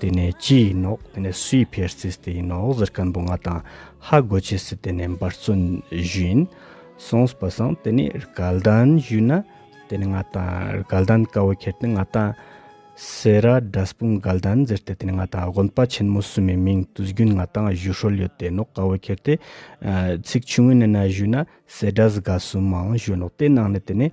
དེ་ནས་ཅི་ཡིན་ནོ་དེ་ནས་སུ་ཡི་ཕེར་སིས་དེ་ཡིན་ནོ་ཟེར་ཀན་པོ་ང་དང་ཧ་གོ་ཆེ་སི་དེ་ནས་འབར་བརྩོན་བཞིན་སོངས་པ་སང་དེ་ནས་རྒལ་དན་བཞུས་ན་དེ་ནས་ང་དང་རྒལ་དན་དཀའ་བོ་ཁྱེར་ཏེ་ང་དང་སེ་ར་དགྲ་སྤུན་རྒལ་དན་ཟེར་ཏེ་དེ་ནས་ང་དང་དགོན་པ་ཆེན་མོ་སུ་མི་མིང་དུ་བསྒྱུར་ང་དང་བཞུ་ཧྲོལ་ཡོད་དེ་ནོག་དཀའ་བོ་ཁྱེར་ཏེ་ཚིག་ཆུང་ངུ་ནས་ན་བཞུས་ན་སེ་དགྲ་སྒ་སུ་མང་བཞུས་ནོག་དེ་ནང་ནས་དེ་ནས།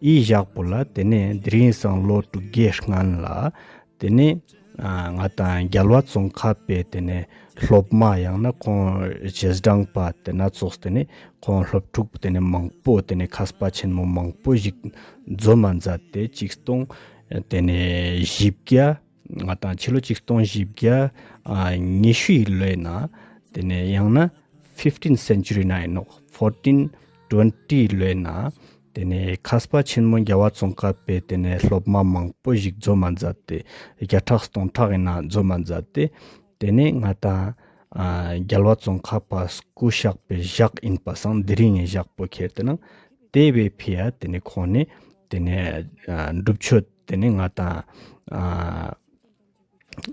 ཡིད་བཞག་པོ་ལ་དེ་ནས་དེ་རིང་སང་ལོ་དྲུག་བརྒྱའི་སྔོན་ལ་དེ་ནས་ང་དང་རྒྱལ་བ་ཙོང་ཁ་པའི་དེ་ནས་སློབ་མ་ཡང་ན་ཁོང་རྗེས་འབྲངས་པ་དེ་སྣ་ཚོགས་དེ་ནས་ཁོང་སློབ་ཕྲུག་དེ་ནས་མང་པོ་དེ་ནས་ཁ་སྤ་ཆེན་མོ་མང་པོ་ཞིག་འཛོམས་མ་མཛད་དེ་གཅིག་སྟོང་དེ་ནས་བཞི་བརྒྱ། ང་དང་ཕྱི་ལོ་གཅིག་སྟོང་བཞི་བརྒྱ་ཉི་ཤུ་ཡི་ལོའི་ནང་དེ་ནས་ཡང་ན fifteen century ནང་ཡིན་ནོ fourteen twenty ཡི་ལོའི་ནང་དེ་ནས་ཁ་སྤ་ཆེན་མོ་རྒྱ་བ་ཙོང་སྐབས་པའི་དེ་ནས་སློབ་མ་མང་པོ་ཞིག་རྫོ་མ་མཛད་དེ་བརྒྱ་ཕྲག་སྟོང་ཕྲག་ཡི་ནང་རྫོ་མ་མཛད་དེ་དེ་ནས་ང་དང་རྒྱལ་བ་ཙོང་ཁ་པ་སྐུ་བཞག་པའི་བཞག་ཡིན་པ་སང་འདི་རིང་ངས་བཞག་པོ་ཁྱེར་དེ་ནང་དེ་བས་ཕི་ཡ་དེ་ནས་ཁོང་ནས་དེ་ནས་སྒྲུབ་མཆོད། དེ་ནས་ང་དང།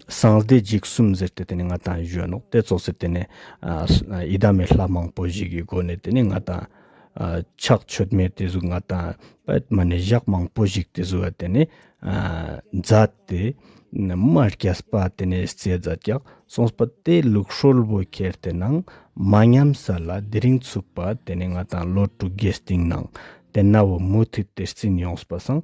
སངས་རྒྱས་འཇིགས་གསུམ་ཟེར་ཏེ་དེ་ནས་ང་དང་གཞོན་ནུ་དེ་ཚོ་ཟེར་དེ་ནས། ཡི་དམ་མེད་ལྷ་མང་པོ་ཞིག་གི་སྒོ་ནས་དེ་ནས་ང་དང། ཕྱག་མཆོད་མེད་དེ་ཚོ་ང་དང་པདྨ་ནས་བཞག་མང་པོ་ཞིག་དེ་ཚོ་དེ་ནས། བཛྲ་སྟེ། དམར་སྐྱ་སྤ་དེ་ནས་རྩེ་བཛྲ་བཀྱག་སོང་སྤ་དེ་ལུགས་ཧྲོལ་བོ་ཁྱེར་དེ་ནང་མ་ཉམས་ས་ལ་དེ་རིང་ཚུགས་པ་དེ་ནས་ང་དང་ལོ་དྲུག་རྒྱས་སྟེང་ནང་དེ་ན་བུ་མོ་དེ་དེར་བརྩིན་ཡོང་སྤ་སངས་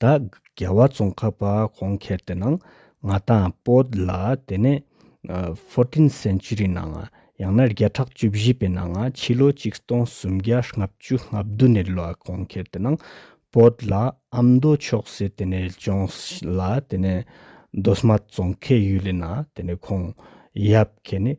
ད་རྒྱལ་བ་ཙོང་ཁ་པ་གོང་ཁྱེར་དེ་ནང་ང་དང་པོ་ལ་དེ་ནས fourteen century ནང་ཡང་ན་བརྒྱ་ཕྲག་བཅུ་བཞི་པའི་ནང་ཕྱི་ལོ་ཆིག་སྟོང་སུམ་བརྒྱ་ལྔ་བཅུ་ལྔ་བདུན་ནས་ལོ་གོང་ཁྱེར་དེ་ནང་པོ་ལ་ཨ་མདོ་ཕྱོགས་སེ་དེ་ནས་ལྗོངས་ལ་དེ་ནས་མདོ་སྨད་ཙོང་ཁའི་ཡུལ་ལས་ན་དེ་ནས་ཁོང་ཡབ་ཁེ་ནི།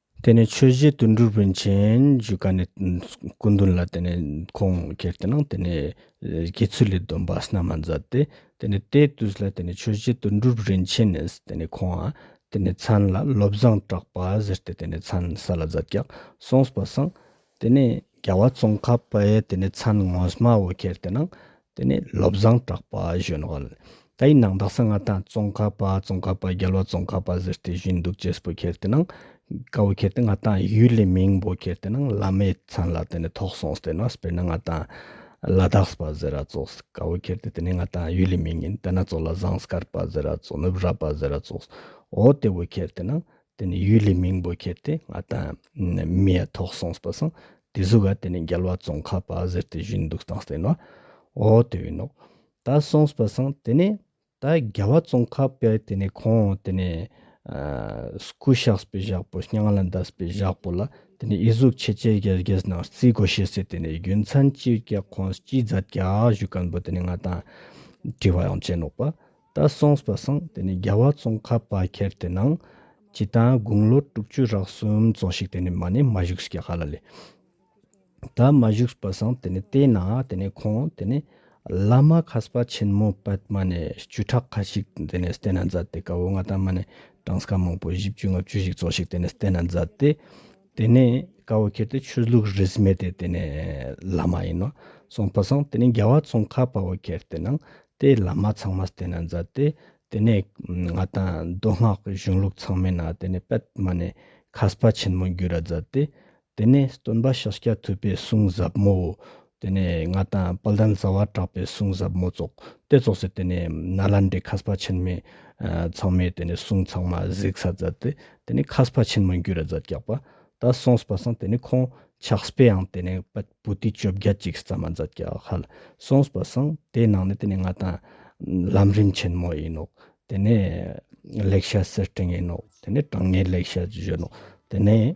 དེ་ནས་ཆོས་རྗེ་དུད་འགྲོར་བོན་ཆེན་བཞུགས་ཀ་ནས་སྐུ་མདུན་ལ་དེ་ནས་ཁོང་ཁྱེར་དེ་ནང་དེ་ནས་དགེ་ཚུལ་ལས་སྡོམ་པ་སྣ་མ་མཛད་དེ། དེ་ནས་དེའི་དུས་ལ་དེ་ནས་ཆོས་རྗེ་དུད་འགྲོར་རིན་ཆེན་ནས་དེ་ནས་ཁོང་དེ་ནས་མཚན་ལ་བློ་བཟང་གྲགས་པ་ཟེར་ཏེ་དེ་ནས་མཚན་ས་ལ་མཛད་ཀྱག་སོང་སྤ་སངས་དེ་ནས་རྒྱལ་བ་ཙོང་ཁ་པས་དེ་ནས་ཚན་ངོ་སྨྲ་བོ་ཁྱེར་དེ་ནང་དེ་ནས་བློ་བཟང་གྲགས་པ་བཞོན་བ་ལ་ད་ཡིན་ནང་དག་ས་ང་ད་ཙོང་ཁ་པ་ཙོང་ཁ་པ་རྒྱལ་བ་ཙོང་ཁ་པ་ཟེར་དེ་བཞིན་འདུག་ཅེས་བོ་ཁྱེར་དེ་ནང་ཀ་བོ་ཁྱེར་དེ་ང་ད་ཡུལ་ལས་མིང་བོ་ཁྱེར་དེ་ནང་བླ་མའི་ཚན་ལ་དེ་ནས་ཐོག་སོང་དེ་ནས་སྤེར་ན་ང་ད་བླ་དགས་པ་ཟེར་ར་ཙོགས་ཀ་བོ་ཁྱེར་དེ་དེ་ནས་ང་ད་ཡུལ་ལས་མིང་ཡིན་དེ་ནང་ཙོགས་ལ་བཟང་སྐར་པ་ཟེར་ར་ཙོགས་ནུབ་ར་པ་ཟེར་ར་ཙོགས་འོ་དེ་བོ་ཁྱེར་དེ་ནང་དེ་ནས་ཡུལ་ལྷའི་མིང་པོ་ཁྱེར་ཏེ་ང་དང་མི་ཡ་ཐོག་སོང་པར་སོང། དེ་གཟུགས་ག་དེ་ནས་རྒྱལ་བ་ཙོང་ཁ་པ་ཟེར་ཏེ་བཞུགས་འདུག་སྟངས་བསྟན་ནོ། འོ་དེ་བས་ནོ། ད་སོང་པར་སོང་དེ་ནས་ད་རྒྱལ་བ་ཙོང་ཁ་པས་དེ་ནས་ཁོང་དེ་ནས་སྐུ་གཤེགས་པའི་ཞགས་པོ་སྙིང་ལ་འདར་པའི་ཞགས་པོ་ལ་དེ་ནས་ཨི་གཟུགས་ཆེ་ཆེ་གེར་གེར་སྣང་རྩིས་སྒོ་ཕྱེས་སའི་དེ་ནས་རྒྱུ་མཚན་ཅིའི་སྐད་ཁོང་ཅི་བཟའ་རྒྱག་བཞུགས་སྐམ་པོ་དེ་ནས་ང་དང་དྲི་བ་ཡང་བྱེད་ནོག་པ་ད་སོང་སྤ་སངས་དེ་ནི་རྒྱལ་བ་ཙོང་ཁ་པ་ཁྱེར་དེ་ནང་སྤྱི་དང་དགུང་ལོ་དྲུག་ཅུ་རག་གསུམ་ཙོང་ཞིག་དེ་ནི་མ་ནི་མ་བཞུགས་སྐྱེ་ག་ལ་ལས། ད་མ་བཞུགས་སྤ་སངས་དེ་ནི་བལྟས་ན་དེ་ནི་ཁོང་དེ་ནི་བླ་མ་ཁ་སྤ་ཆེན་མོ་པདྨ་ནི་བཅུ་ཕྲག་ཁ་ཞིག་དེ་ནི་བལྟས་ན་མཛད་དེ་ཀ་བོ་ང་དང་མ་ནི་གྲངས་ཀ་མང་པོ་བཞི་བཅུ་ལྔ་བཅུ་ཞིག་ཙོང་ཞིག་དེ་ནི་བལྟས་ན་མཛད་དེ། དེ་ནས་དགའ་བོ་ཁྱེད་དེ་ཆོས་ལུགས་རིས་མེད་དེ་དེ་ནས་བླ་མ་ཡིན་ནོ་གསུངས་པ་སང་དེ་ནས་རྒྱལ་བ་ཙོང་ཁ་དཔའ་བོ་ཁྱེད་དེ་ནང་དེ་བླ་མ་ཚང་མ་དེ་ན་འཛའ་དེ་དེ་ནས་ང་དང་མདོ་སྔགས་ཀྱི་གཞུང་ལུགས་ཚང་མས་ན་དེ་ནས་པད་མ་ནས་ཁ་སྤ་ཆེན་མོ་འགྱུར་ར་འཛའ་དེ་དེ་ནས་སྟོན་པ་ཤཱཀྱ་ཐུབ་པས་གསུངས་ཟབ་མོའོ་དེ་ནས་ང་དང་དཔལ་ལྡན་རྩ་བ་གྲགས་པའི་གསུང་ཟབ་མོ་རྫོགས། དེ་རྫོགས་ཚེ་དེ་ནས་ན་ལ་འདྲེ་ཁ་སྤ་ཆེན་མོས། ཚང་མས་དེ་ནས་གསུང་ཚང་མ་གཟིགས་ས་མཛད་དེ། དེ་ནས་ཁ་སྤ་ཆེན་མོ་འགྱུ་ར་མཛད་རྒྱག་པ། ད་སོང་སྤ་སང་དེ་ནས་ཁོང་ཕྱག་སྤེ་ཡང་དེ་ནས་པད་བུ་ཏི་བཅོ་བརྒྱད་ཅིག་རྩ་མ་མཛད་རྒྱག་ཧལ་སོང་སྤ་སང་དེ་ནང་ནས་དེ་ནས་ང་དང། ལམ་རིམ་ཆེན་མོ་ཡིན་ནོ། དེ་ནས། ལེགས་བཤད་གསེར་སྤྲིན་ཡིན་ནོ། དེ་ནས་དྲང་ངེས་ལེགས་བཤད་བརྗོད་ནོ། དེ་ནས།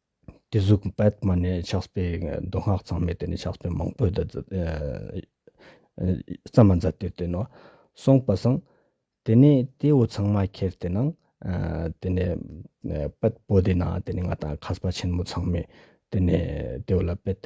དེ་གཟུགས་པད་མ་ནས་ཕྱག་སྤེལ་མདོ་སྔགས་ཚང་མས་དེ་ནས་ཕྱག་སྤེལ་མང་པོས་བརྩམས་པ་མཛད་དེ་བསྟན་ནོ། གསུངས་པ་སངས། དེ་ནས་དེ་འོ་ཚང་མ་ཁྱེར་དེ་ན། དེ་ནས་པད་པོ་དེ་ན་དེ་ནས་ང་དང་ཁ་སྤ་ཆེན་མོ་ཚང་མས་དེ་ནས་དེ་འོ་ལ་པད།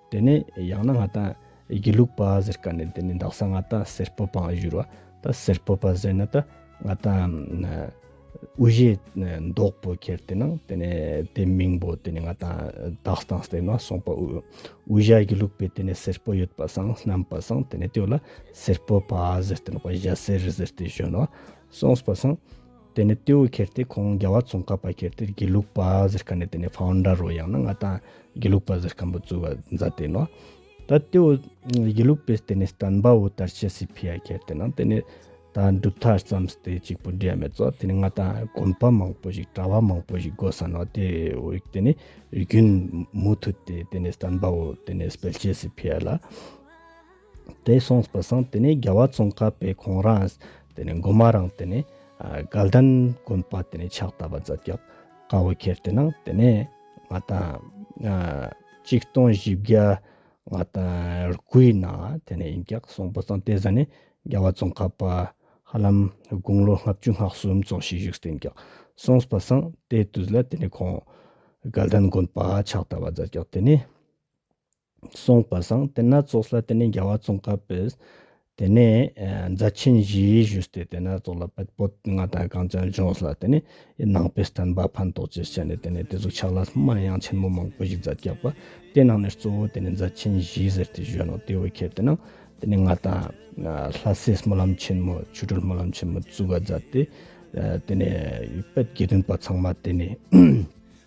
དེ་ནས་ཡང་ན་ང་ད་དགེ་ལུགས་པ་ཟེར་ག་ནས་དེ་ནས་འདག་ས་ང་ད་སེར་སྤོ་པའང་བཞུར་བ་ད་སེར་སྤོ་པ་ཟེར་ན་ད་ང་ད་དབུ་བཞེས་འདོགས་པོ་ཁྱེར་དེ་ནང་དེ་ནས་དེ་མིང་པོ་དེ་ནས་ང་ད་དག་སྟངས་སྟེ་ན་སོང་པ་དབུ་བཞའ་དགེ་ལུགས་པའི་དེ་ནས་སེར་སྤོ་ཡོད་པ་སང་སྣམ་པ་སང་དེ་ནས་དེ་བ་ལ་སེར་སྤོ་པ་ཟེར་དེ་ནོག་པ་བཞའ་སེར་ཟེར་དེ་བཞོན་བ་སོང་སྤ་སང། དེ་ནས་ཏེའུ་ཁྱེར་ཏེ་ཁོང་རྒྱལ་བ་ཙོང་ཁ་པ་ཁྱེར་ཏེ་དགེ་ལུགས་པ་ཟེར་ཁ་ནས་དེ་ནས Founder རོ་ཡང་ན་ང་དང་དགེ་ལུགས་པ་ཟེར་ཁ་འབུ་བཙུགས་བ་མཛད་དེ་ནོ། ད་ཏེའུ་དགེ་ལུགས་པས་དེ་ནས་སྟན་པ་འུ་དར་ཆེ་སི་ཕི་ཡ་ཁྱེར་ཏེ་ནང་དེ་ནས་ད་འབྲུག་མཐར་བརྩམས་སྟེ་གཅིག་པུ་འབྲས་མེད་ཙོ་དེ་ནས་ང་དང་དགོན་པ་མང་པོ་ཞིག་གྲྭ་བ་མང་པོ་ཞིག་དགོས་ས་ནོ་དེ་འུག་དེ་ནས་རྒྱུན་མུ་མཐུད་དེ་དེ་ནས་སྟན་པ་འུ་དེ་ནས་སྤེལ་ཆེ་སི་ཕི་ཡ་ལ། དེ་སོང་བུ་སང་དེ་ནས་རྒྱལ་བ་ཙོང་ཁ་པའི་གོང་རང་དེ་ནས་འགོ་མ་རང་དེ་ནས་དགའ་ལྡན་དགོན་པ་དེ་ནས་ཕྱག་བཏབ་པ་ཛབ་རྒྱག་དཀའ་བོ་ཁྱེར་དེ་ནང་དེ་ནས་ང་དང་གཅིག་སྟོང་བཞི་བརྒྱ་ང་དང་རྐུའི་ནང་དེ་ནས་ཡིན་རྒྱག་སོང་བུ་སང་དེ་ཟ་ནས་རྒྱལ་བ་ཙོང་ཁ་པ་ཧ་ལམ་དགུང་ལོ་ལྔ་བཅུ་ལྔ་གསུམ་ཙོང་ཤིག་བཞུགས་སྟེ་ཡིན་རྒྱག་སོང་བུ་སང་དེ་དུས་ལ་དེ་ནས་ཁོང་དགའ་ལྡན་དགོན་པ་ཕྱག་བཏབ་པ་ཛབ་རྒྱག་དེ་ནས། གསུངས་པ་སང་དེ་སྣ་ཚོགས་ལ་དེ་ནས་རྒྱལ་བ་བཙོང་ཁ་པས་དེ་ནས་རྫ་ཆེན་བཞིའི་བཞུགས་སྟེ་དེ་སྣ་ཚོགས་ལ་པད་པོ་ལྔ་དང་གངས་ཅན་ལྗོངས་ལ་དེ་ནས་ནང་པའི་བསྟན་པ་ཕན་ཐོགས་ཆེད་བྱས་ནས་དེ་ནས་དེ་གཟུགས་ཆགས་ལ་སྨན་དབྱངས་ཆེན་མོ་མང་པོ་ཞིག་རྫ་རྒྱགས་པ་དེ་ནང་ནས་གཙོ་བོ་དེ་ནས་རྫ་ཆེན་བཞི་ཟེར་ཏེ་བཞོན་ནོ་དེ་བས་ཁྱད་དེ་ནང་དེ་ནས་ང་དང། ལྷ་སྲས་སྨོན་ལམ་ཆེན་མོ་ཆོས་གྲོལ་སྨོན་ལམ་ཆེན་མོ་གཙུག་ག་རྫ་སྟེ། དེ་ནས་པད་དགེ་འདུན་པ་ཚང་མ་དེ་ནས།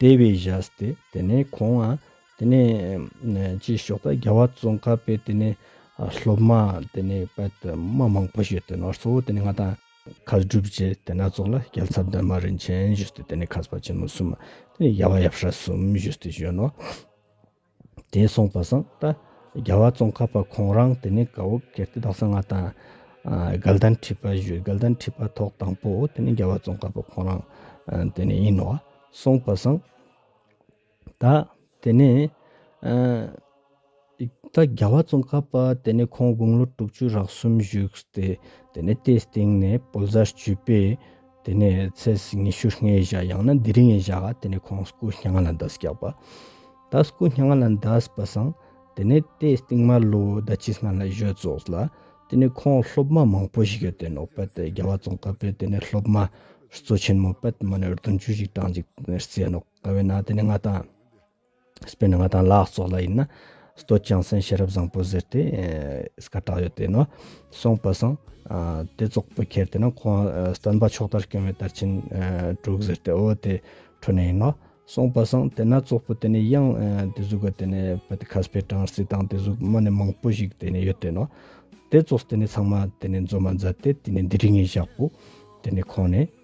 དེ་བས་བཞག་སྟེ་དེ་ནས་ཁོང་ཨ་དེ་ནས་ཅེས་ཞོག་ད་རྒྱལ་བ་ཙོང་ཁ་པས་དེ་ནས་སློབ་མ་དེ་ནས་པད་དུ་མ་མང་པོ་བྱོས་ཏེ་ནོར་གཙོ་བོ་དེ་ནས་ང་དང། ཁ་སྒྲུབ་བྱས་དེ་སྣ་ཚོགས་ལ་རྒྱལ་ཚབ་འདོན་མ་རིན་ཆེན་བྱོས་ཏེ་དེ་ནས་ཁ་སྤ་ཆེན་མོ་གསུམ་དེ་ནས་རྒྱལ་བ་ཡབ་ཧྲ་གསུམ་བྱོས་ཏེ་བྱོན་ནོ། དེས་གསུངས་པ་བཟང་སྟེ། རྒྱལ་བ་ཙོང་ཁ་པ་ཁོང་རང་དེ་ནས་དགའ་བོ་གལ་ཏེ་དག་ས་ལྔ་དང། སྒལ་ལྡན་ཁྲི་པ་བཞི་སྒལ་ལྡན་ཁྲི་པ་ཐོག་དང་པོ་དེ་ནི་རྒྱལ་བ་ཙོང་ཁ་པ་ཁོང་རང་དེ་ནས་ཡིན་ནོ། གསུངས་པ་བཟང་སྟེ། དེ་ནས་ད་རྒྱལ་བ་ཙོང་ཁ་པ་དེ་ནས་ཁོང་དགུང་ལོ་དྲུག་ཅུ་རག་གསུམ་བཞུགས་ཏེ་དེ་ནས་དེའི་སྟེང་ནས་བོད་བཟའ་བཅུ་པའི། དེ་ནས་ཚེས་ཉི་ཤུར་ངའི་བཞག་ཡང་ན་འདི་རིང་ངའི་བཞག་དེ་ནས་ཁོང་སྐུ་སྙ་ང་ལ་འདའ་སྐྱག་པ། ད་སྐུ་སྙ་ང་ལ་འདའ་སྤ་སང། དེ་ནས་དེས་སྟིང་མར་ལོ་ཟླ་གཅིག་སྔ་ལ་བཞོད་རྩོགས་ལ། དེ་ནས་ཁོང་སློབ་མ་མང་པོ་ཞིག་ཡོད་དེ་ནོ་པད་དེ་རྒྱ་བ་ཙོང་ཁ་པས་དེ་ནས་སློབ་མ། གཙོ་ཆེན་མོ་པད་མ་ནས་རྡུང་ཆུ་ཞིག་དྲངས་འཇིག་རྩེ་ནོ་ཁ་བས་ན་དེ་ནས་ང་དང། སྤེན་ནི་ང་དང་ལག་སོགས་ལ་ཡིན་ན། སྟོད་ཅང་སེན་ཤེས་རབ་བཟང་པོ་ཟེར་ཏེ། ས་ག་གྲགས་ཡོད་དེ་ནོ། སོང་པ་སང། དེ་ཙོག་པུ་ཁྱེར་དེ་ན་ཁོང་སྟོན་པ་ཕྱོགས་དར་སྐྱོང་བའི་དར་ཆེན་དྲུག་ཟེར་ཏེ་འོ་དེ་ཁྲོད་ནས་ཡིན་ནོ། སོང་པ་སང་དེ་ན་ཙོག་པུ་དེ་ནས་གཡང་དེ་གཟུགས་ག་དེ་ནས་བུ་དེ་ཁ་སྤེ་ཀྲང་སི་དང་དེ་གཟུགས་མ་ནི་མང་པོ་ཞིག་དེ་ནས་ཡོད་དེ་ནོ། དེ་ཙོག་དེ་ནས་ཚང་མ་དེ་ནས་འཛོ་མ་མཛད་དེ་དེ་ནས་འདི་རིགས་ངས་བཞག་པོ། དེ་ནས་ཁོང་ནས།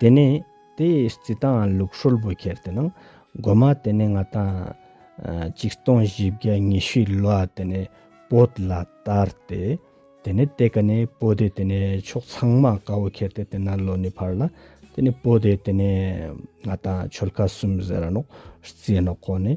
དེ་ནས་དེའི་རྩི་དང་ལུག་ཧྲོལ་པོ་ཁྱེར་དེ་ནང་སྒོ་མ་དེ་ནས་ལྔ་དང། ཅིག་སྟོང་བཞི་བརྒྱ་ཉི་ཤུའི་ལོ་ཨ་དེ་ནས་པོད་ལ་བསྟར་ཏེ། དེ་ནས་དེ་ག་ནས་པོ་དེ་དེ་ནས་ཕྱོགས་ཚང་མ་དགའ་བོ་ཁྱེར་ཏེ་དེ་ན་ལོ་ནི་འཕར་ལ། དེ་ནས་པོ་དེ་དེ་ནས་ལྔ་དང་ཆོལ་ཁ་གསུམ་ཟེར་ར་ནོག་རྩིས་ནོག་ཁོ་ནས་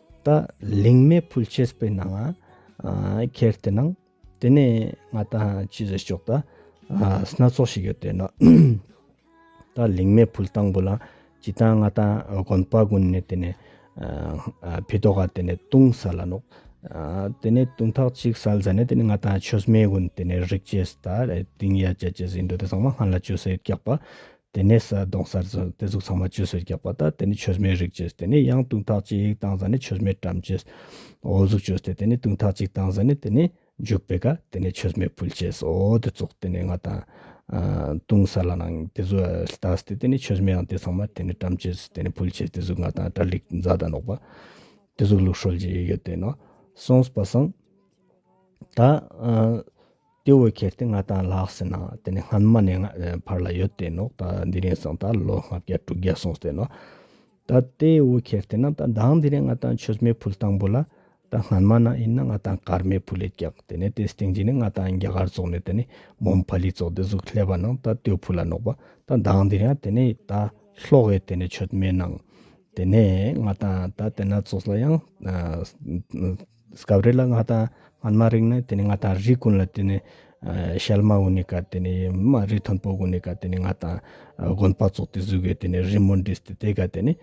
ད་ལིང་མེ་ཕུལ་ཆེས་པའི་ནང་ང་ཁྱེར་བལྟས་ན་དེ་ནས་ང་ད་ཅི་ཟེར་ཆོག་ད་སྣ་ཚོགས་ཞིག་ཡོད་བལྟས་ན་ད་ལིང་མེ་ཕུལ་དང་པོ་ལ་ཇི་ལྟར་ང་ད་གོན་པ་གོན་ནས་དེ་ནས་བི་ཏོ་ག་དེ་ནས་བཏུང་ས་ལ་ནོག་དེ་ནས་བཏུང་ཐག་ཅིག་སལ་ཟ་ནས་དེ་ནས་ང་ད་ཆོས་མེ་གོན་དེ་ནས་རིག་ཅེས་ད་དིང་ཡ་ཅེས་ཅེས་ཟིན་འདུག་དེ་ཚང་མ་སྔ་ལ་ཅོ་སེར་སྐྱག་པ་དེ་ནས་ས་དོང་སར་ཟོས་ནས་དེ་གཟུགས་ཚང་མ་ཇུས་སུ་རྒྱག་པ་དང་དེ་ནས་ཆོས་མེད་རིགས་བྱས་ཏེ་ནས་ཡང་དུང་ཐག་ཅིག་བཏང་ས་ནས་ཆོས་མེད་བཀྲམ་བྱས། འོ་གཟུགས་བྱོས་ཏེ་དེ་ནས་དུང་ཐག་ཅིག་བཏང་ས་ནས་དེ་ནས་འཇུག་པས་ཀ་དེ་ནས་ཆོས་མེད་ཕུལ་བྱས་སོ་དེ་བཙོག་དེ་ནས་ང་དང། དུང་ས་ལ་ནང་དེ་གཟུགས་བལྟ་སྟེ་དེ་ནས་ཆོས་མེད་ཡང་དེ་ཚང་མ་དེ་ནས་བཀྲམ་བྱས་དེ་ནས་ཕུལ་བྱས་དེ་གཟུགས་ང་དང་སྐྲ་ལིག་རྫ་དང་ནོག་པ། དེ་གཟུགས་ལུག་ཧྲོལ་གྱི་ཡོད་དེ་ནོ། སོང་སྤ་སང། ད། དེ་འོས་ཁེལ་ཏེ་ང་དང་ལྷག་ཟེར་ན་དེ་ནི་སྔོན་མ་ནས་ཕར་ལ་ཡོད་དེ་ནོ་ད་འདི་རིང་སོང་ད་ལོ་ལྔ་བརྒྱ་དྲུག་བརྒྱ་སོང་ཟེར་ནོ། ད་དེ་འོས་ཁེལ་ཏེ་ན་ད་བདག་འདི་རིང་ང་དང་ཆོས་མེད་ཕུལ་དང་པོ་ལ་ད་སྔོན་མ་ན་ཡིན་ན་ང་དང་ཀར་མེད་ཕུལ་ལས་བཀྱགས་དེ་ནས་དེ་སྟེང་རྗེས་ནས་ང་དང་རྒྱ་གར་ཙོག་ནས་དེ་ནི་མོམ་ཕ་ལི་ཙོག་དེ་གཟུགས་ལྷད་པ་ནང་ད་སྟོད་ཕུ་ལ་ནོག་པ་ད་བདག་འདི་རིང་དེ་ནི་ད་ལྷོག་ཡོད་དེ་ནས་ཆོས་མེད་ནང་དེ་ནས་ང་དང་ད་དེ་ན་ཙོག་ལ་ཡང། སྐབས་རེ་ལ་ང་དང་སྔོན་མ་རིག་ནི་དེ་ནི་ང་དང་རི་ཀུན་ལ་དེ་ནི་ཤལ་མ་འུ་ནི་ཀ་དེ་ནི་མ་རི་མཐོན་པོ་འུ་ནི་ཀ་དེ་ནི་ང་དང་དགོན་པ་ཙོག་ཏི་གཟུགས་གི་དེ་ནི་རི་མོ་འདི་སྟེ་དེ་ག་དེ་ནི་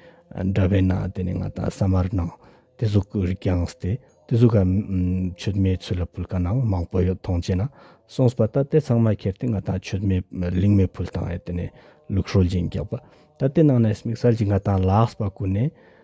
འདྲ་བས་ན་དེ་ནི་ང་དང་ས་མར་སྣང་དེ་གཟུགས་ཀུ་རི་ཀྱང་སྟེ་དེ་གཟུགས་ཀ་མཆོད་མེའི་ཚུལ་ལ་ཕུལ་ཀ་ནའང་མང་པོ་ཡོད་མཐོང་བྱེད་ན་གསུངས་པ་ད་དེ་ཚང་མ་ཁྱེར་ཏེ་ང་དང་མཆོད་མེ་ལིང་མེ་ཕུལ་དང་ཨེ་དེ་ནི་ལུགས་ཧྲོལ་གྱིན་རྒྱག་པ་ད་དེ་ནང་ནས་མིག་སལ་གྱིས་ང་དང་ལགས་པ་ཀུན་ནས་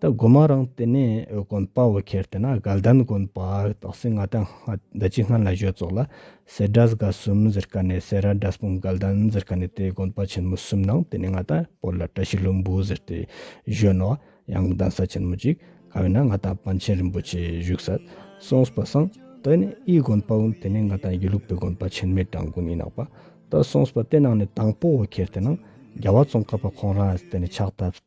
ད་སྒོ་མ་རང་བལྟས་ནས་འོད་ཀོན་དཔའ་བོ་ཁྱེར་བལྟས་ན་དགའ་ལྡན་ཀོན་དཔའ་དག་སེ་ང་ད་སྔ་ཟླ་གཅིག་སྔ་ན་གཞོས་བཙོག་ལ་སེ་སྒྲ་ཟ་ག་གསུམ་ཟེར་ག་ནས་སེ་ར་སྒྲ་སྤུངས་དགའ་ལྡན་ཟེར་ག་ནས་དེ་ཀོན་དཔའ་ཆེན་མོ་གསུམ་ནང་བལྟས་ནས་ང་ད་བོད་ལ་བཀྲ་ཤིས་ལྷུན་པོ་ཟེར་ཏེ་གཞོན་ནོ་ཡང་གདན་ས་ཆེན་མོ་གཅིག་ག་བས་ན་ང་ད་པཎ་ཆེན་རིན་པོ་ཆེ་བཞུགས་ས་སོང་སྤ་སང་བལྟས་ནས་ཨི་ཀོན་དཔའ་བོ་དེ་ནས་ང་ད་ཡུལ་ལུགས་པའི་ཀོན་དཔའ་ཆེན་མའི་བྲང་ཀོན་ཨི་ནག་པ་ད་སོང་སྤ་དེ་ནང་ནས་དང་པོ་བོ་ཁྱེར་བལྟས་ན་རྒྱ་བ་ཙོང་ཁ་པ་ཁོང་རང་ཨ་བལྟས་ནས་ཕྱག་ཐབས།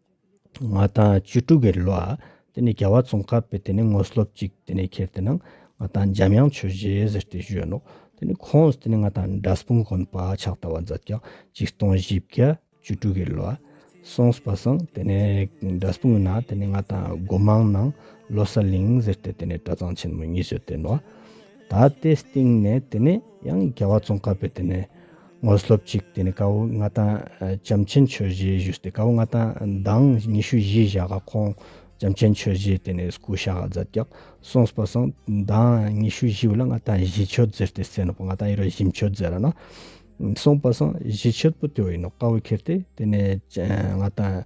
ང་དང་བཅུ་དྲུག་གི་ལོ་ཨ་དེ་ནས་རྒྱལ་བ་ཙོང་ཁ་པས་དེ་ནས་ངོ་སློབ་ཅིག་དེ་ནས་ཁྱེར་དེ་ནང་ང་དང་འཇམ་དབྱངས་ཆོས་རྗེ་ཟེར་དེ་བཞོན་ནོ་དེ་ནས་ཁོངས་དེ་ནས་ང་དང་འདྲ་སྤུངས་དགོན་པ་ཕྱག་བཏབ་བ་འཛད་ཀྱང་ཅིག་སྟོང་བཞི་བརྒྱ་བཅུ་དྲུག་གི་ལོ་ཨ་སོང་སྤ་སང་དེ་ནས་འདྲ་སྤུངས་ན་དེ་ནས་ང་དང་སྒོ་མང་ནང་ལོ་གསར་གླིང་ཟེར་དེ་དེ་ནས་གྲྭ་ཚང་ཆེན་མོ་གཉིས་བཟོས་དེ་ནོ་ད་ལྟའི་སྟེང་ནས་དེ་ནས་ཡང་རྒྱལ་བ་ཙོང་ཁ་པས་དེ་ནས། དངོས་སློབ་གཅིག་དེ་ནས་དཀའ་བོ་ལྔ་དང་བྱམས་ཆེན་ཆོས་བཞི་བཞུགས་ཏེ་དཀའ་བོ་ལྔ་དང་མདང་ཉི་ཤུ་བཞི་བཞག་ག་ཁོང་བྱམས་ཆེན་ཆོས་བཞི་དེ་ནས་སྐུ་ཞག་ག་བཛྲ་ཀྱག་སོང་སྤ་སོང་མདང་ཉི་ཤུ་བཞི་བ་ལ་ལྔ་དང་བཞི་མཆོད་མཛད་ཏེ་སེ་ནོ་པ་ལྔ་དང་ཡེ་ར་བཞི་མཆོད་མཛད་ལ་ན་སོང་སྤ་སོང་བཞི་མཆོད་པོ་དེ་བ་ཡིན་ནོ་དཀའ་བོ་ཁེར་ཏེ་དེ་ནས་ལྔ་དང།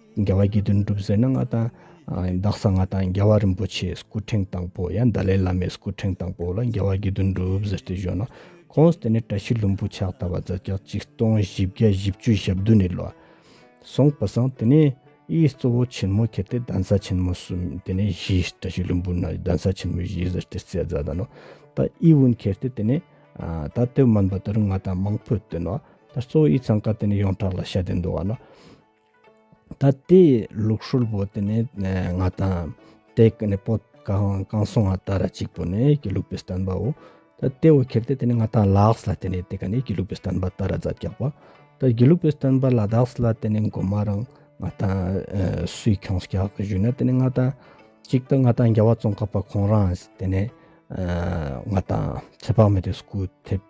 རྒྱལ་བ་དགེ་འདུན་གྲུབ་ཟེར་ན་ང་དང། རྡ་ས་ང་དང་རྒྱལ་བ་རིན་པོ་ཆེའི་སྐུ་ཕྲེང་དང་པོ་ཡང་ཏཱ་ལའི་བླ་མའི་སྐུ་ཕྲེང་དང་པོ་ལ་རྒྱལ་བ་དགེ་འདུན་གྲུབ་ཟེར་ཏེ་བཞོན་ནོ། ཁོང་དེ་ནས་བཀྲ་ཤིས་ལྷུན་པོ་ཕྱག་དར་བ་རྫ་སྐྱག་གཅིག་སྟོང་བཞི་བརྒྱ་བཞི་བཅུ་ཞབས་བདུན་ནས་ལོ། སོང་བ་སང་དེ་ནས་ཨིའི་གཙོ་བོ་ཆེན་མོ་ཁྱེར་ཏེ་གདན་ས་ཆེན་མོ་གསུམ་དེ་ནས་བཞི་བཀྲ་ཤིས་ལྷུན་པོ་ན་གདན་ས་ཆེན་མོ་བཞི་ཟེར་ཏེ་སྲས་རྫ་དང་ནོ། ད་ཨིའི་བོན་ཁྱེར་ཏེ་དེ་ནས། ད་ལྟའི་མོན་པ་དེ་རུ་ང་དང་མང་པོས་བསྟེན་ནོ། ད་གཙོ་བོ་ཨིའི་ཚང་ཁ་དེ་ནས་ཡོངས་གྲགས་ལ་ཤ་དེ་འདུ་བ་ནོ། ད་ལྟའི་ལུགས་སྲོལ་བོ་དེ་ནི་ང་དང་དེ་ག་ནི་པོ་གང་གང་སོང་བ་ལྟར་གཅིག་པོ་ནི་གི་ལུགས་པའི་བསྟན་པའོ། ད་ལྟའི་བོ་ཁྱེར་དེ་དེ་ནི་ང་དང་ལགས་ལ་དེ་ནི་དེ་ག་ནི་གི་ལུགས་པའི་བསྟན་པ་ལྟར་རྫ་རྒྱག་པ། ད་གི་ལུགས་པའི་བསྟན་པ་ལ་དྭགས་ལ་དེ་ནི་མགོ་མ་རང་ང་དང་སུས་ཁྱོང་རྒྱག་གི་བཞུགས་ན་དེ་ནི་ང་དང་གཅིག་ད་ང་དང་རྒྱ་བ་ཙོང་ཁ་པ་ཁོང་རང་དེ་ནི་ང་དང་ཚེ་དཔག་མེད་དུ་སྐུ་ཐེབས།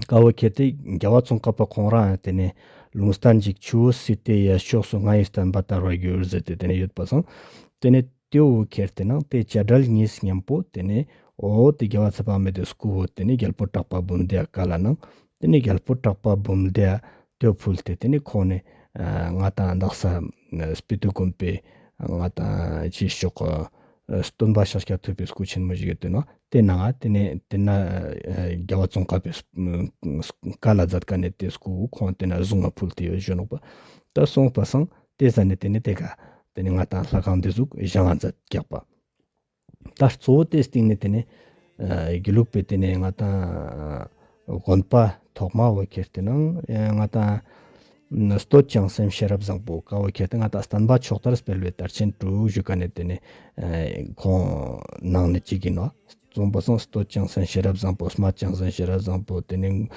དཀར་བོ་ཁྱེར་ཏེ་རྒྱལ་བ་ཙོང་ཁ་པ་ཁོང་རང་ཡང་དེ་ནས་ལུང་ས་འཇིགས་ཆུ་བོ་སི་ཏའི་ཡ་ཕྱོགས་སུ་ང་ཡི་སྟོན་པ་བསྟར་བར་གྱུར་ཟེར་ཏེ་དེ་ནས་ཡོད་པ་བཟང། དེ་ནས་ཏེའུ་བོ་ཁྱེར་ཏེ་ནང་བལྟས་བྱ་བྲལ་གཉིས་སུ་མཉམ་པོ་དེ་ནས་འོ་དེ་རྒྱལ་བ་ཚེ་དཔག་མེད་དེ་སྐུ་བོ་དེ་ནས་རྒྱལ་པོ་གྲགས་པ་འབུམ་སྡེ་ཀ་ལ་གནང་དེ་ནས་རྒྱལ་པོ་གྲགས་པ་འབུམ་སྡེ་དོད་ཕུལ་ཏེ་དེ་ནས་ཁོང་ནས་ང་དང་འདག་ས་སྤི་ཏུ་དགོན་པའི་ང་དང་གཅིག་ཤོག། སྟོན་པ་ཕྱག་རྒྱ་ཐོད་པའི་སྐུ་ཆེན་མོ་ཞིག་གིས་སྟོན། དེ་ན་དེ་ནས་དེ་ན་རྒྱལ་བ་ཙོང་ཁ་པའི་བཀའ་ལ་བཛད་དཀའ་ནས་དེ་སྐུ་བོ་ཁོང་དེ་ན་བཟུང་བ་ཕུལ་དེ་གཞོན་ནུ་པ་ད་གསུངས་པ་སང་དེ་ཟ་ནས་དེ་ནས་དེ་ག་དེ་ནས་ང་དང་ལྷ་ཁང་འདི་གཟུགས་གཞན་ལ་མཛད་རྒྱག་པ་ད་གཙོ་བོ་དེ་སྟེང་ནས་དེ་ནས་དགེ་ལུགས་པས་དེ་ནས་ང་དང། དགོན་པ་ཐོག་མ་བོད་ཁྱེར་དུས་ནང་ང་དང། སྟོད་བྱང་སེམས་ཤེས་རབ་བཟང་པོ་ཀ་བོད་ཁྱེར་དུས་ང་དང་སྟན་པ་ཕྱོགས་དར་སྤེལ་བའི་དར་ཆེན་དྲུག་བཞུགས་ཀ་ནས་དེ་ནས་ཁོང་ནང་ནས་གཅིག་ཡིན་ནོ། བཙོང་པ་སང་སྟོད་བྱང་སེམས་ཤེས་རབ་བཟང་པོ་སྨད་བྱང་སེམས་ཤེས་རབ་བཟང་པོ་དེ་ནས་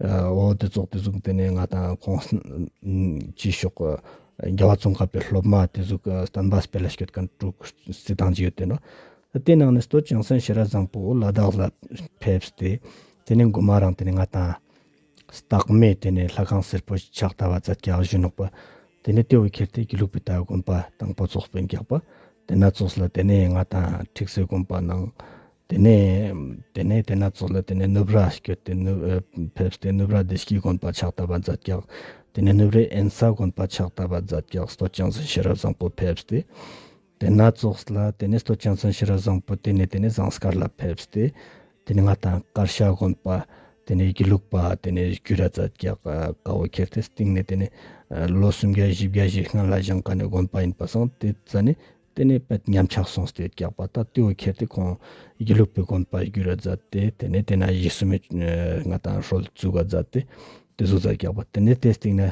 འོ་དེ་ཙོག་དེ་གཟུགས་དེ་ནས་ང་དང་ཁོང་གཅིག་ཤོག་གོ། རྒྱལ་བ་ཙོང་ཁ་པའི་སློབ་མ་དེ་གཟུགས་སྟན་པ་སྤེལ་ལ་སྐྱོད་ཀ་དྲུག་བརྩིས་བཏང་གཅིག་ཡོད་དེ་ནོ། དེའི་ནང་ནས་སྟོད་ཅིང་སན་ཤི་ར་བཟང་པོ་ལ་དྭགས་ལ་ཕེབས་ཏེ་དེ་ནས་འགོ་མ་རང་དེ་ནས་ང་དང། སྟག་མས་དེ་ནས་ལྷ་ཁང་སེར་པོ་ཕྱག་རྟ་བ་བཛྲ་བརྒྱ་བཞུ་ནོག་པ་དེ་ནས་ཏེའུ་ཁྱེར་ཏེ་དགེ་ལུགས་པའི་སྟག་དགོན་པ་དང་པོ་ཙོག་པའི་འགེགས་པ་དེ་ན་ཙོགས་ལ་དེ་ནས་ང་དང་ཁྲིག་སེ་དགོན་པ་ནང་དེ་ནས་དེ་ནས་དེ་ན་ཙོགས་ལ་དེ་ནས་ནུབ་ར་བསྐྱོད་དེ་ནུབ་ཕེབས་ཏེ་ནུབ་ར་བདེ་སྐྱིད་དགོན་པ་ཕྱག་རྟ་བ་བཛྲ་བརྒྱ་དེ་ནས་ནུབ་རའི་ཨན་ས་དགོན་པ་ཕྱག་རྟ་བ་བཛྲ་བརྒྱ་སྟོད་ཅིང་སན་ཤི་ར་བཟང་པོ་ཕེབས་ཏེ། དེ་སྣ་ཚོགས་སུ་ལ་དེ་ནས་སྟོད་ཆེན་ཚོན་ཕྱི་ར་བཟང་པོ་དེ་ནས་དེ་ནས་ཟངས་དཀར་ལ་ཕེབས་སྟེ་དེ་ནས་ང་ཐང་དཀར་ཤ་དགོན་པ་དེ་ནས་སྒྱིད་ལུག་པ་དེ་ནས་གུ་ར་ཙ་རྒྱ་དཀའ་བོ་ཁྱེར་ཏེ་སྟེང་ནས་དེ་ནས་ལོ་སུམ་བརྒྱ་བཞི་བརྒྱ་བཞེས་སྔ་ལ་བཞེངས་ཀ་ནས་དགོན་པ་ཡིན་པ་སངས་དེ་ཙ་ནས་དེ་ནས་པད་ཉམས་ཆགས་སོང་སྟེ་སྐྱག་པ་ད་ལྟེའུ་ཁྱེར་ཏེ་ཁོང་སྒྱིད་ལུག་པའི་དགོན་པ་གུ་ར་ཙ་དེ་དེ་ནས་དེ་ན་གཞིས་སུ་མི་ང་ཐང་ཧྲོལ་ཙུ་ག་ཙ་དེ་དེ་གཟུགས་ཙ་སྐྱག་པ་དེ་ནས་དེ་སྟེང་ན།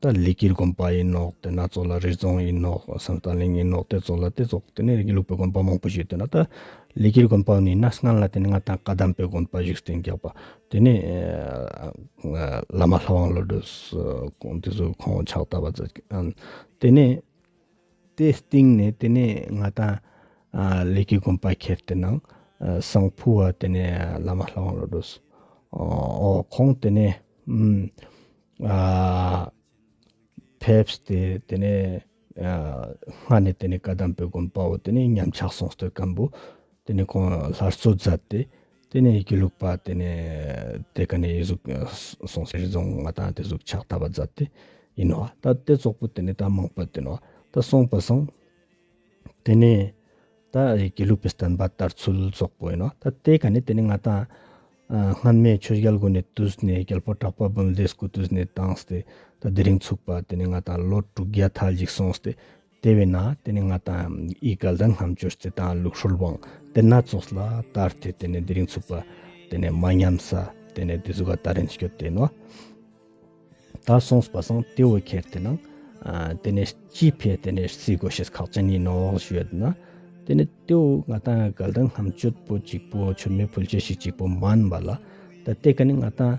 ད་ལི་ཀིར་དགོན་པ་ཡིན་ནོ་དེ་ན་གཙོ་ལ་རི་རྫོང་ཡིན་ནོ་སང་ད་གླིང་ཡིན་ནོ་དེ་གཙོ་ལ་དེ་གཙོ་དེ་ནས་རིགས་ཀྱི་ལུགས་པའི་དགོན་པ་མང་པོ་ཞིག་དེ་ན་ད་ལི་ཀིར་དགོན་པ་ནི་ན་སྔ་ལ་དེ་ནས་ང་ད་བཀའ་གདམས་པའི་དགོན་པ་ཞིག་བསྟན་རྒྱག་པ་དེ་ནས་བླ་མ་ལྷ་དབང་བློ་གྲོས་སུ་དེ་ཚོ་ཁོང་ཕྱག་བཏབ་པ་དེ་ནས། དེ་སྟེང་ནས་དེ་ནས་ང་དང། ལས་ཀྱི་དགོན་པ་ཁྱེར་དེ་ནང་སང་ཕུ་བ་དེ་ནས་བླ་མ་ལྷ་དབང་བློ་གྲོས་སོ། ཁོང་དེ་ནས། ཕེབས་ཏེ་དེ་ནས། སྔ་ནས་དེ་ནས་བཀའ་གདམས་པའི་དགོན་པའོ་དེ་ནས་ཉམས་ཆག་སོང་སྟོད་སྐམ་པོ། དེ་ནས་ཁོང་སླར་གསོ་མཛད་དེ། དེ་ནས་ཡི་གེ་བླུགས་པ་དེ་ནས་དེ་ག་ནས་ཡི་གཟུགས་སོང་ཟེར་རྫོང་ལྔ་དང་དེ་གཟུགས་ཕྱག་བཏབ་པ་མཛད་དེ་ཡིན་ནོ། ད་ལྟའི་ཙོག་པུ་དེ་ནས་ད་མང་པོ་དེ་ནོ། ད་གསུངས་པ་སོང། དེ་ནས་ད་ཡི་གེ་བླུགས་པའི་བསྟན་པ་ལྟར་ཚུལ་ཙོག་པུ་ཡིན་ནོ། ད་དེ་ག་ནས་དེ་ནས་ང་དང། སྔོན་མའི་ཆོས་རྒྱལ་དགོན་ནས་བཏུས་ནས་རྒྱལ་པོ་གྲགས་པ་འབུམ་སྡེས་སྐུ་བཏུས་ནས་བཏང་སྟེ། ད་དེ་རིང་ཚུགས་པ་དེ་ནས་ང་དང་ལོ་དྲུག་བརྒྱ་ཐལ་ཅིག་སོང་སྟེ། དེ་བས་ན་དེ་ནི་ང་དང་ཨི་ག་ལ་རྣམ་འབྱོར་རྩེ་དང་ལུགས་ཧྲུལ་དབང་དེ་སྣ་ཚོགས་ལ་ད་ལྟའི་དེ་ནི་འདི་རིང་ཚུགས་པ་དེ་ནི་མ་ཉམས་ས་དེ་ནི་འདི་གཟུགས་ཀ་ད་རིང་བསྐྱོད་དེ་ནོ། ད་སོང་བ་སང་དེ་འོད་ཁྱེར་དེ་ནང་དེ་ནི་སྐྱི་ཕེ་དེ་ནི་སི་གོ་ཤེས་ཁག་ཅན་ནི་ནོག་བཞོད་ན་དེ་ནི་དེ་འོད་ང་དང་ཨི་ག་ལ་རྣམ་འབྱོར་པོ་གཅིག་པོ་ཆུ་མེད་ཕུལ་བྱེད་ཤིག་གཅིག་པོ་མ་ཨན་བ་ལ་ད་ལྟའི་ག་ནི་ང་དང་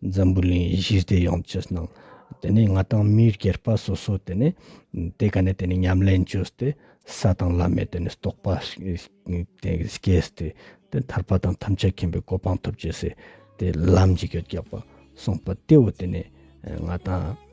འཛམ་བུའི་གླིང་ཡེ་ཤེས་སྡེ་ཡོངས་ཀྱི་ནང་དེ་ནས་ང་དང་མིའི་སྐྱེར་པ་སོ་སོ་དེ་ནས་དེ་ག་ནས་དེ་ནས་ཉམས་ལེན་བཅོས་ཏེ་ས་དང་བླ་མའི་དེ་ནས་རྟོགས་པ་སྐྱེས་སྟེ་དེ་ཐར་པ་དང་ཐམས་ཅད་མཁྱེན་པའི་གོ་འཕང་ཐོབ་ཅེས་སའི་དེ་ལམ་གྱི་གེགས་རྒྱག་པ་གསུངས་པ་དེའོ་དེ་ནས་ང་དང།